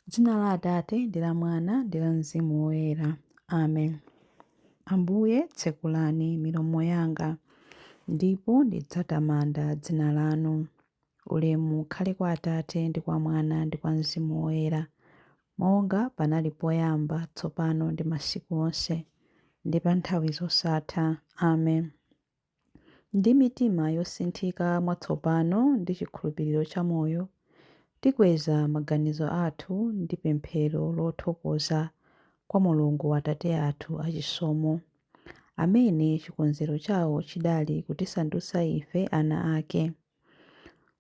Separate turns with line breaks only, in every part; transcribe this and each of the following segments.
M'dzina la Atate, ndi la Mwana, ndi la Mzimu Woyera. Amen. Ambuye, tsekulani milomo yanga, ndipo ndidzatamanda dzina lanu. Ulemu ukhale kwa Atate, ndi kwa Mwana, ndi kwa Mzimu Woyera, monga panali poyamba, tsopano, ndi masiku onse, ndi pa nthawi zosatha. Amen. Ndi mitima yosinthika mwatsopano ndi chikhulupiriro chamoyo, tikweza maganizo athu ndi pemphero lothokoza kwa Mulungu Atate athu achisomo, amene chikonzero chawo chidali kutisandutsa ife ana ake.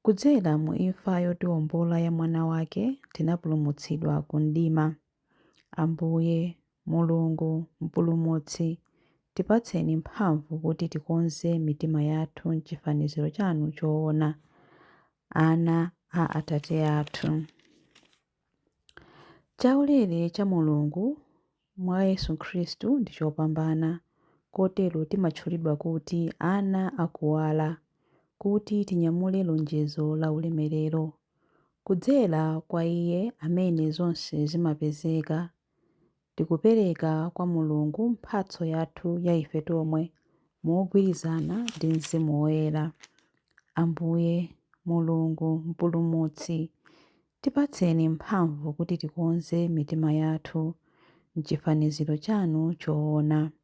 Kudzera mu imfa yotiombola ya Mwana wake, tinapulumutsidwa ku mdima. Ambuye, Mulungu, Mpulumutsi, tipatseni mphamvu kuti tikonze mitima yathu m'chifaniziro chanu choona, ana a Atate athu. Chaulere cha Mulungu mwa Yesu Khristu ndi chopambana, kotero timatchulidwa kuti ana a kuwala, kuti tinyamule lonjezo la ulemerero. Kudzera kwa iye amene zonse zimapezeka, tikupereka kwa Mulungu mphatso yathu ya ife tomwe mogwirizana ndi Mzimu Woyera. Ambuye, Mulungu, Mpulumutsi, tipatseni mphamvu kuti tikonze mitima yathu m'chifaniziro chanu choona.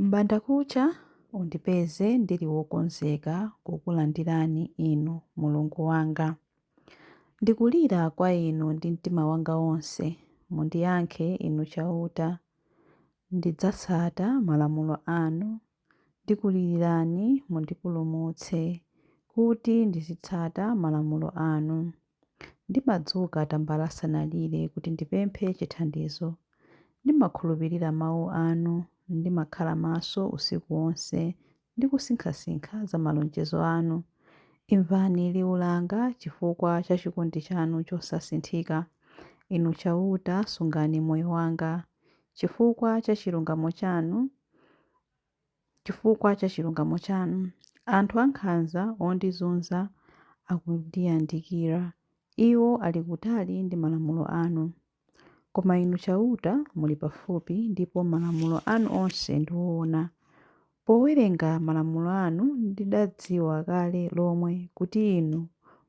M'bandakucha undipeze ndili wokonzeka kukulandirani Inu Mulungu wanga. Ndikulira kwa Inu ndi mtima wanga wonse, mundiyankhe Inu Chauta. Ndidzatsata malamulo anu Ndikulilirani, mundipulumutse, Kuti ndizitsata malamulo anu. Ndimadzuka tambala asanalire kuti ndipemphe chithandizo. Ndimakhulupirira mawu anu. Ndimakhala maso usiku wonse ndi kusinkhasinkha za malonjezo anu. Imvani liwu langa chifukwa cha chikondi chanu chosasinthika. Inu Chauta, sungani moyo wanga. Chifukwa cha chilungamo chanu, chifukwa cha chilungamo chanu. Anthu ankhanza ondizunza akundiyandikira, iwo ali kutali ndi malamulo anu. Koma Inu Chauta muli pafupi, ndipo malamulo anu onse ndi oona. Powerenga malamulo anu ndidadziwa kale lomwe kuti Inu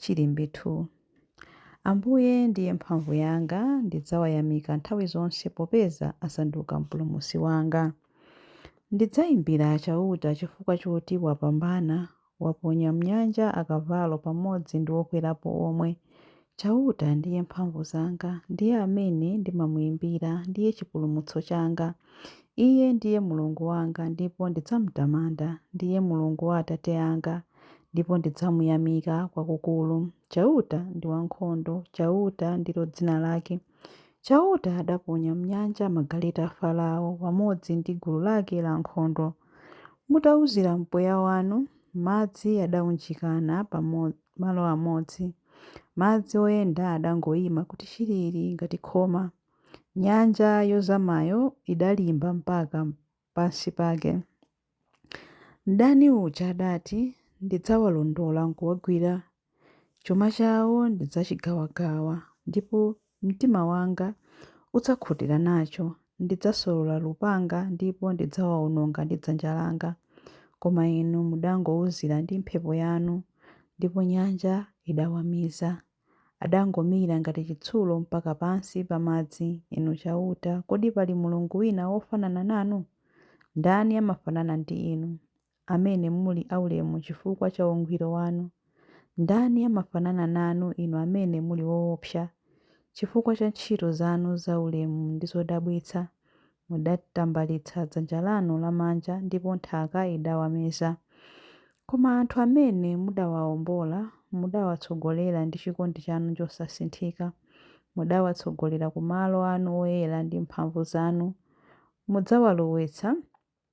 Chilimbi 2. Ambuye ndiye mphamvu yanga, ndidzawayamika nthawi zonse popeza asanduka mpulumutsi wanga. Ndidzayimbira Chauta chifukwa choti wapambana, waponya m'nyanja akavalo pamodzi ndi okwerapo omwe. Chauta ndiye mphamvu zanga, ndiye amene ndimamuimbira, ndiye chipulumutso changa. Iye ndiye Mulungu wanga ndipo ndidzamtamanda, ndiye Mulungu wa atate anga, ndipo ndidzamuyamika kwakukulu. Chauta ndi wankhondo, Chauta ndilo dzina lake. Chauta adaponya m'nyanja magaleta a Farao pamodzi ndi gulu lake lankhondo. Mutauzira mpweya wanu, madzi adaunjikana pa malo amodzi. Madzi oyenda adangoima kuti chilili ngati khoma. Nyanja yozamayo idalimba mpaka pansi pake. Mdani uja adati, Ndidzawalondola nkuwagwira. Chuma chawo ndidzachigawagawa, ndipo mtima wanga udzakhutira nacho. Ndidzasolola lupanga, ndipo ndidzawaononga ndi dzanja langa. Koma inu mudangouzira ndi mphepo yanu, ndipo nyanja idawamiza. Adangomira ngati chitsulo mpaka pansi pa madzi. Inu Chauta, kodi pali Mulungu wina wofanana nanu? Ndani amafanana ndi Inu, amene muli aulemu chifukwa cha ungwiro wanu? Ndani amafanana nanu, Inu amene muli woopsa chifukwa cha ntchito zanu zaulemu ndi zodabwitsa? Mudatambalitsa dzanja lanu lamanja ndipo nthaka idawameza. Koma anthu amene mudawaombola, mudawatsogolera ndi chikondi chanu chosasinthika. Mudawatsogolera ku malo anu oyera ndi mphamvu zanu. Mudzawalowetsa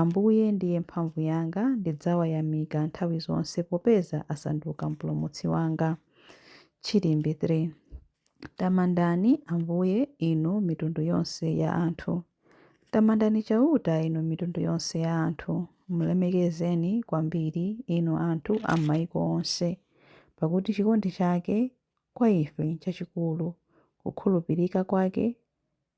Ambuye ndiye mphamvu yanga, ndidzawayamika nthawi zonse, popeza asanduka Mpulumutsi wanga. Chilimbi 3 Tamandani Ambuye, inu mitundu yonse ya anthu. Tamandani Chauta, inu mitundu yonse ya anthu. Mlemekezeni kwambiri, inu anthu a m'maiko onse. Pakuti chikondi chake kwa ife nchachikulu, kukhulupirika kwake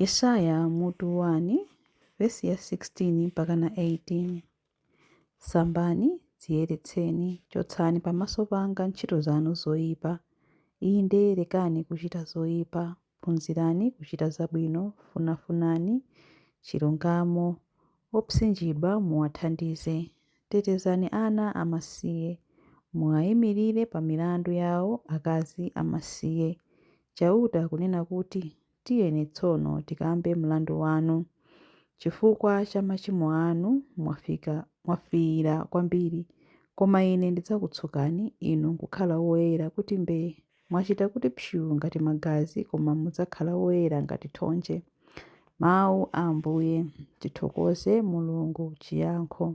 Yesaya mutu 1 vesi ya 16 mpaka na 18 sambani dziyeretseni chotsani pamaso panga ntchito zanu zoyipa inde lekani kuchita zoyipa phunzirani kuchita zabwino funafunani chilungamo Opsinjidwa muwathandize. Tetezani ana amasiye. Muaimirire pa milandu yao akazi amasiye. Chauta akunena kuti, Tiyeni tsono tikambe mlandu wanu. Chifukwa cha machimo anu mwafika, mwafiira kwambiri. Koma Ine ndidzakutsukani inu kukhala woyera kuti mbee. Mwachita kuti psyu ngati magazi koma mudzakhala woyera ngati thonje. Mawu a Ambuye. Tithokoze Mulungu! Chiyankho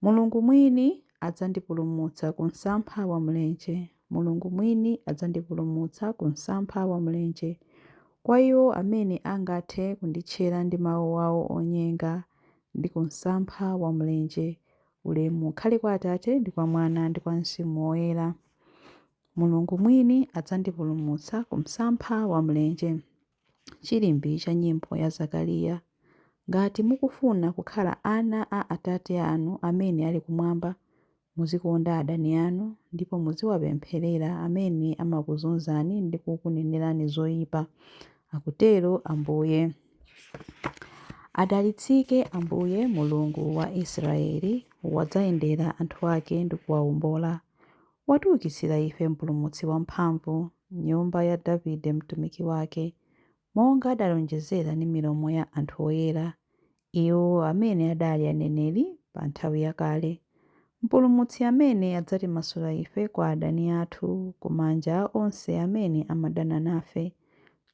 Mulungu mwini adzandipulumutsa ku msampha wa mlenje. Mulungu mwini adzandipulumutsa ku msampha wa mlenje. Kwa iwo amene angathe kunditchera ndi mawu awo onyenga ndi ku msampha wa mlenje. Ulemu ukhale kwa Atate ndi kwa Mwana ndi kwa Mzimu Woyera. Mulungu mwini adzandipulumutsa ku msampha wa mlenje. Chilimbi cha Nyimbo ya Zakariya. Ngati mukufuna kukhala ana a Atate anu amene ali kumwamba, muzikonda adani anu ndipo muziwapempherera amene amakuzunzani ndi kukunenerani zoipa, akutero Ambuye. Adalitsike Ambuye, Mulungu wa Israyeli, wadzayendera anthu ake ndi kuwawombola. Watiukitsira ife Mpulumutsi wamphamvu, m'nyumba ya Davide mtumiki wake, monga adalonjezera ndi milomo ya anthu oyera, iwo amene adali aneneri pa nthawi yakale, Mpulumutsi amene adzatimasula ife kwa adani athu, ku manja a onse amene amadana nafe.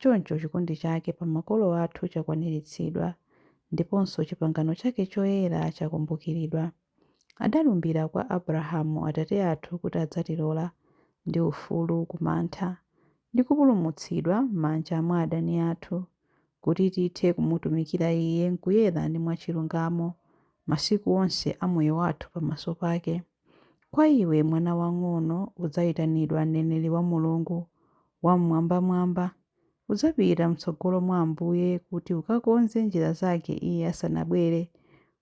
Choncho chikondi chake pa makolo athu chakwaniritsidwa, ndiponso chipangano chake choyera chakumbukiridwa. Adalumbira kwa Abrahamu atate athu kuti adzatilola ndi ufulu ku mantha, ndi kupulumutsidwa m'manja mwa adani athu, kuti tithe kumutumikira Iye m'kuyera ndi mwachilungamo masiku onse a moyo wathu pamaso pake. Kwa iwe, mwana wang'ono, udzaitanidwa mneneri wa Mulungu Wam'mwambamwamba. Udzapita m'tsogolo mwa Ambuye kuti ukakonze njira zake Iye asanabwere,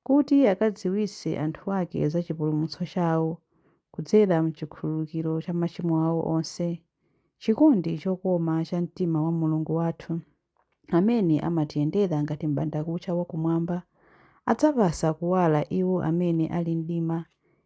kuti akadziwitse anthu ake za chipulumutso chawo, kudzera m'chikhululukiro cha machimo awo onse. Chikondi chokoma cha mtima wa Mulungu wathu, amene amatiyendera ngati m'bandakucha wa kumwamba, adzapatsa kuwala iwo amene ali m'mdima,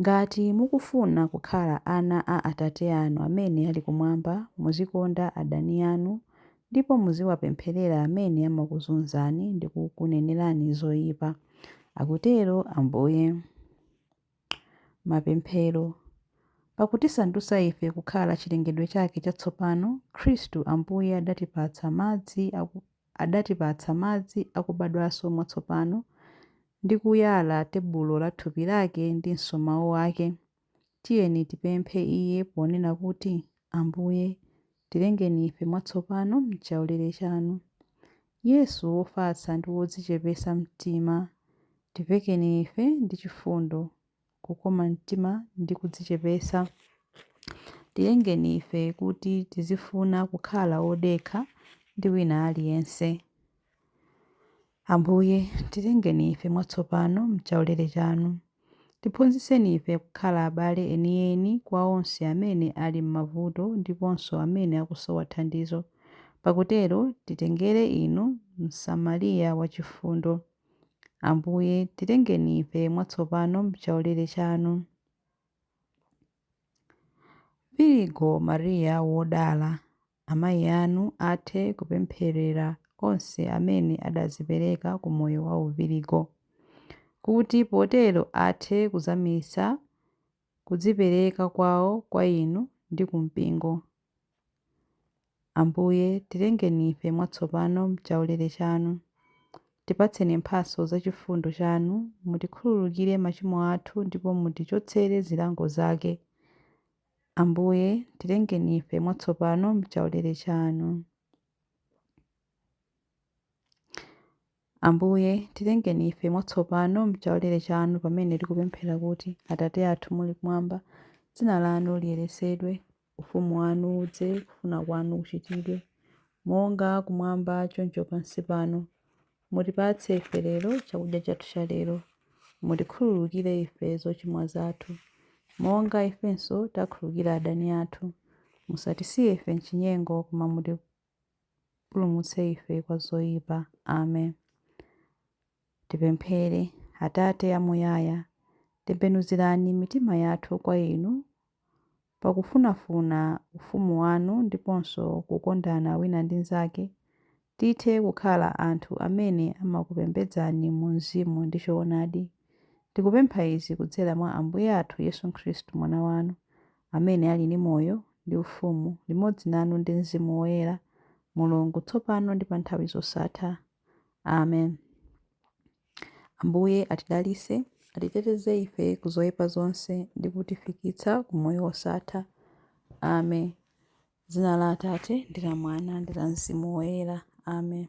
Ngati mukufuna kukhala ana a Atate anu amene ali kumwamba, muzikonda adani anu ndipo muziwapempherera amene amakuzunzani ndi kukunenerani zoipa. Akutero Ambuye. Mapemphero Pakutisandutsa ife kukhala chilengedwe chake chatsopano, Khristu Ambuye adatipatsa madzi a adatipatsa madzi akubadwanso mwatsopano ndi kuyala tebulo la thupi lake ndinso mau ake, tiyeni tipemphe iye ponena kuti, Ambuye, tilengeni ife mwatsopano m'chaulere chanu. Yesu wofatsa ndi wodzichepetsa mtima, tivekeni ife ndi chifundo. kukoma mtima ndi kudzichepetsa. Tilengeni ife kuti tizifuna kukhala odekha ndi wina aliyense. Ambuye, tilengeni ife mwatsopano m'chaulere chanu. Tiphunzitseni ife kukhala abale enieni kwa onse amene ali m'mavuto ndiponso amene akusowa thandizo. Pakutero titengere inu Msamariya wachifundo. Ambuye, tilengeni ife mwatsopano m'chaulere chanu. Virigo Maria wodala, amayi anu athe kupempherera onse amene adadzipereka ku moyo wa uvirigo, kuti potero athe kuzamitsa kudzipereka kwawo kwa Inu ndi ku Mpingo. Ambuye, tilengeni ife mwatsopano m'chaulere Chanu. Tipatseni mphatso za chifundo Chanu, mutikhululukire machimo athu ndipo mutichotsere zilango zake. Ambuye, tilengeni ife mwatsopano m'chaulere Chanu. Ambuye, tilengeni ife mwatsopano m'chaulere chanu pamene tikupemphera kuti, Atate athu muli kumwamba, dzina lanu liyeretsedwe, ufumu wanu udze, kufuna kwanu kuchitidwe, monga kumwamba choncho pansi pano. Mutipatse ife lero chakudya chathu cha lero. Mutikhululukire ife zochimwa zathu, monga ifenso takhululukira adani athu. Musatisiye ife m'chinyengo, koma mutipu. mutipulumutse ife kwa zoyipa. Amen. Tipemphere. Atate amuyaya, tembenuzirani mitima yathu kwa inu pakufunafuna ufumu wanu ndiponso kukondana wina ndi mnzake, tithe kukhala anthu amene amakupembedzani mu mzimu ndi choonadi. Tikupempha izi kudzera mwa Ambuye athu Yesu Khristu, Mwana wanu, amene ali ndi moyo ndi ufumu limodzi nanu ndi mzimu woyera, Mulungu, tsopano ndi pa nthawi zosatha. Amen. Ambuye atidalitse, atiteteze ife ku zoipa zonse ndi kutifikitsa ku moyo wosatha. Amen. Dzina la Atate ndi la Mwana ndi la Mzimu Woyera. Amen.